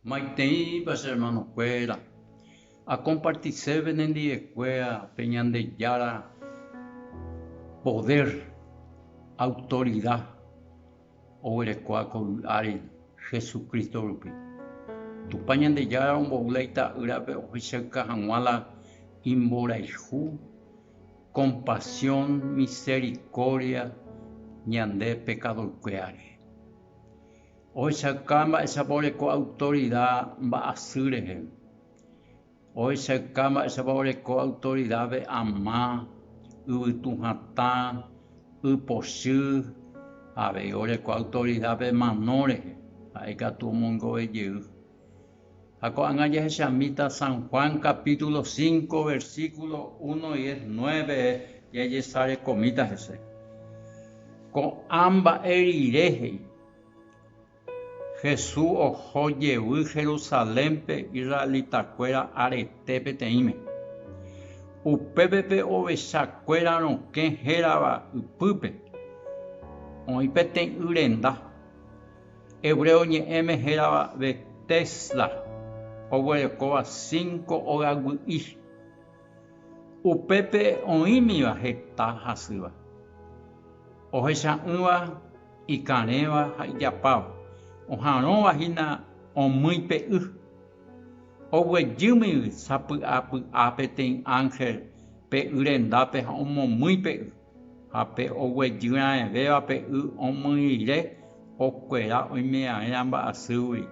Maiteipa che hermanokuéra, akompartise penendiekuéa pe Ñandejára podér, autorida oguerekóva ko vy'áre Jesucristo rupi. Tupã Ñandejára ombou la Ita'ýrape ohechauka hag̃ua la imborayhu, kompasión, miserikórdia ñande pekadoykuéra rehe. Ohechauka mba'éichapa oreko autorida mba'asy rehe. Ohechauka mba'éichapa oreko autorida ve'ãma, yvytu hatã, y pochy, avei oreko autorida pe mano rehe, ha'e katu omongovejey. Ha ko'ág̃a jahechamíta San Juan capítulo cinco, versículo uno, diez, nueve jajesarekomíta hese. Ko'ã mba'e rire he'i, Jesús oho jevy Jerusalénpe israelitakuéra arete peteĩme. Upépe pe ovechakuéra rokẽ hérava ypýpe, oĩ peteĩ y renda. Hebreo ñe'ẽme hérava Betesda oguerekóva cinco ogaygui'i. Upépe oĩmiva heta hasýva, ohecha'ỹva, ikarẽva ha ijapáva, oha'arõva hína omýi pe y. Oguejýmigui sapy'apy'a peteĩ ánhel pe y rendápe ha omomýi pe y. Ha pe oguejyraẽvéva pe y omyire okuera oimeraẽrã mba'asýgui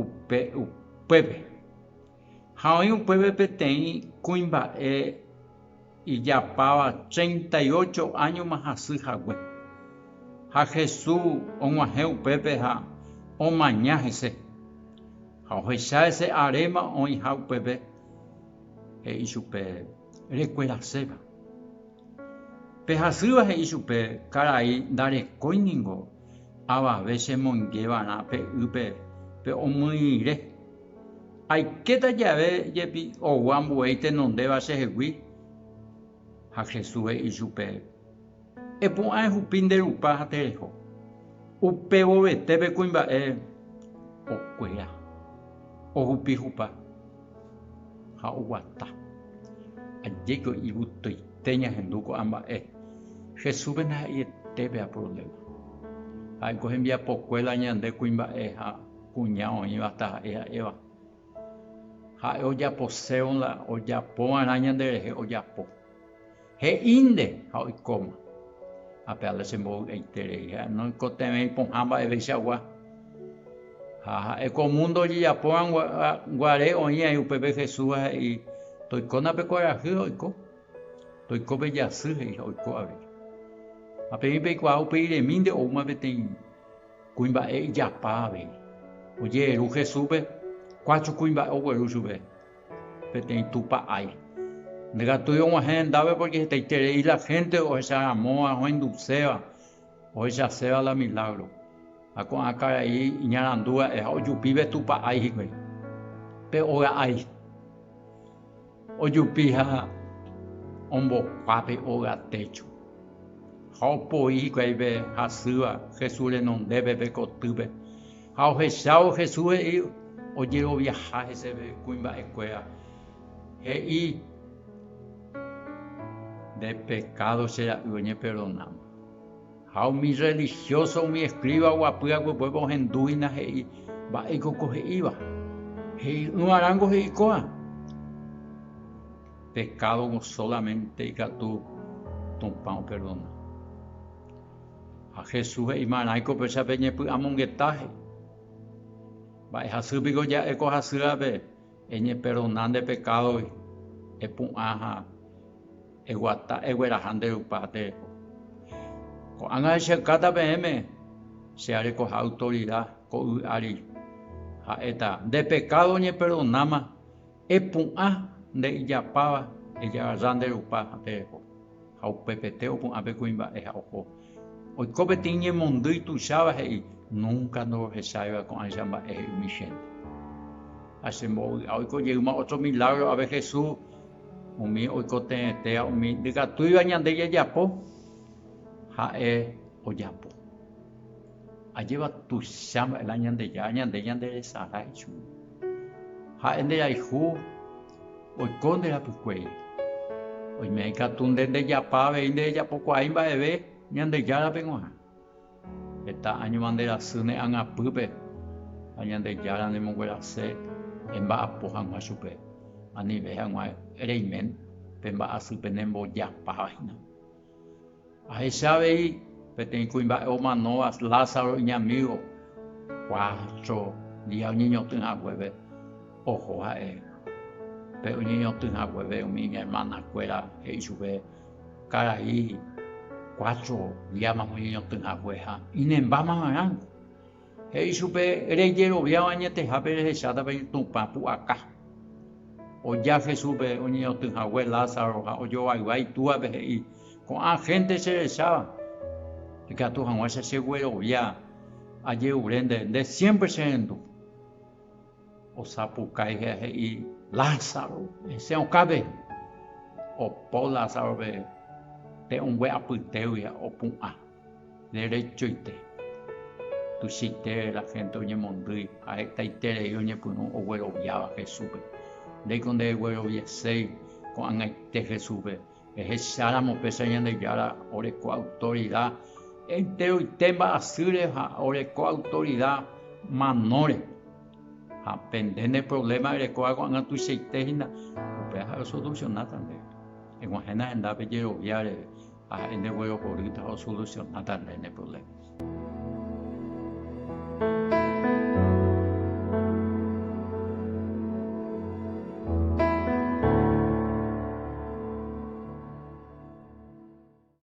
upe upépe. Ha oĩ upépe peteĩ kuimba'e ijapáva treinta y ocho áñoma hasy hague. Ha Jesús og̃uahẽ upépe ha omaña hese. Ha ohecha hese aréma oĩha upépe, he'i chupe. rekueraséva. Pe hasýva he'i chupe, Karai, ndarekói ningo avave chemoingeva'erã pe ýpe pe omyirĩre. Aikéta jave jepi ou ambue itenondéva chehegui. Ha Jesús he'i chupe, Epu'ã ehupi nde rupa ha tereho. Upevovete pe kuimba'e okuera ohupi hupa ha oguata. Ajéko ivutoite ñahendu ko'ã mba'e. Jesúspe ndaha'eiete pea provléma. Ha'e ko hembiapokuéra ñande kuimba'e ha kuña oĩva taha'e ha'éva. Ha'e ojaposévo la ojapova'erã ñanderehe ojapo. He'ínte ha oikóma. Ha pe ale chembovy'aiterei, ha noikotevẽi pohã mba'eveichagua. Ha ha'e ko múndo ojejapórõ guare oĩ aĩ upépe Jesúsva he'i, Toikóna pe kuarahy ha oiko, toiko pe jasy he'i ha oiko avei. Ha peẽ peikuaa upéi remínte oúma peteĩ kuimba'e ijapa avei. Ojeheru Jesúspe, kuachu kuimba'e ogueru chupe. Peteĩ Tupã ái. Ndekatúi og̃uahẽ hendápe pórke hetaiterei la hénte ohecharamóva ohenduséva, ohechaséva la milágro. Ha ko'ã karai iñarandu va'e ha ojupi pe Tupã ái hikuái, pe óga ái. Ojupi ha ombokuaa pe óga técho ha opoi hikuái pe hasýva Jesús renondépe pe kotýpe. Ha ohechávo Jesús he'i ojeroviaha heseve kuimba'ekuéra, he'i, Nde pekádo che ra'y oñeperdonáma. Ha umi rrelihióso umi eskríva oguapy aguepuépe ohendu hína he'i, Mba'éiko ko he'íva? He'i'ỹva rángo he'i ko'ã, Pekádogõ sólamente ikatu Tupã operdona. Ha Jesús he'i marãi ko péichape ñepy'amongetahe. Mba'e hasy piko ja'e ko hasýape eñeperdona nde pekádogui, epu'ã ha eguata egueraha nde Rupá tereho. Ko'ág̃a echyakáta peẽme che arekoha autorida ko yvy ári, ha'éta nde pekádo oñeperdonáma Epu'ã nde ijapáva ejagaja nde rupa ha tereho. Ha upepete opu'ã pe kuimba'e ha oho. Oiko peteĩ ñemondýi tuicháva he'i, Núnka ndorohecháiva ko'ãicha mba'e he'ími chénte. Ha che mbovy'a oiko jeýma ótro milágro ave Jesús, umi oiko teete ha umi ndykatúiva ñande jajapo, ha'e ojapo. Ajépa tuicha mba'e la Ñandejára ñande ñanderesarái ichupe. Ha'e nderayhu oiko nde rapykuéri. Oime ikatu nde ndejapa avei nderejapokuaái mba'eve Ñandejárape g̃uarã. Heta áñoma nderasy ne agapýpe ha Ñandejára nemonguerase emba'apo hag̃ua chupe, anive hag̃ua reime pe mba'asy pene mbojapavahína. Ahecha avei peteĩ kuimba'e omanóva Lázaro iñamígo, cuatro día oñeñotỹ haguépe oho ha'e. Pe oñeñotỹ haguépe umi iñermanakuéra he'i chupe, Karai, cuatro díamako oñeñotỹ hague ha inembamo'ãrãngo. He'i chupe, Rejeroviáva añetehápe rehecháta pe Tupã pu'aka. Oja Jesúspe oñeñotỹ hague Lázaro ha ojovayva itúape he'i, Ko'ã hénte cherecháva, ikatu hag̃ua che cheguerovia ajerure nde, nde siémpre cherendu. Osapukái ha he'i, Lázaro, hese okãpe. Opo Lázarope te'õngue apytégui ha opu'ã. Derechoite, tuichaite la hénte oñemondýi ha hetaiterei oñepyrũ ogueroviáva Jesúspe. Ndéiko ndeguerovieséi ko'ag̃aite Jesúspe. Ehecháramo péicha Ñandejára oreko autorida enteroite mba'asýre ha oreko autorida manóre. Ha pende ne provléma erekóva ko'ag̃a tuichaite hína, upéva ha'e osolusionáta ndéve. Eg̃uahẽna hendápe jerovia reve, Ha ha'éntengue okorýta osolusiona tape ne provléma.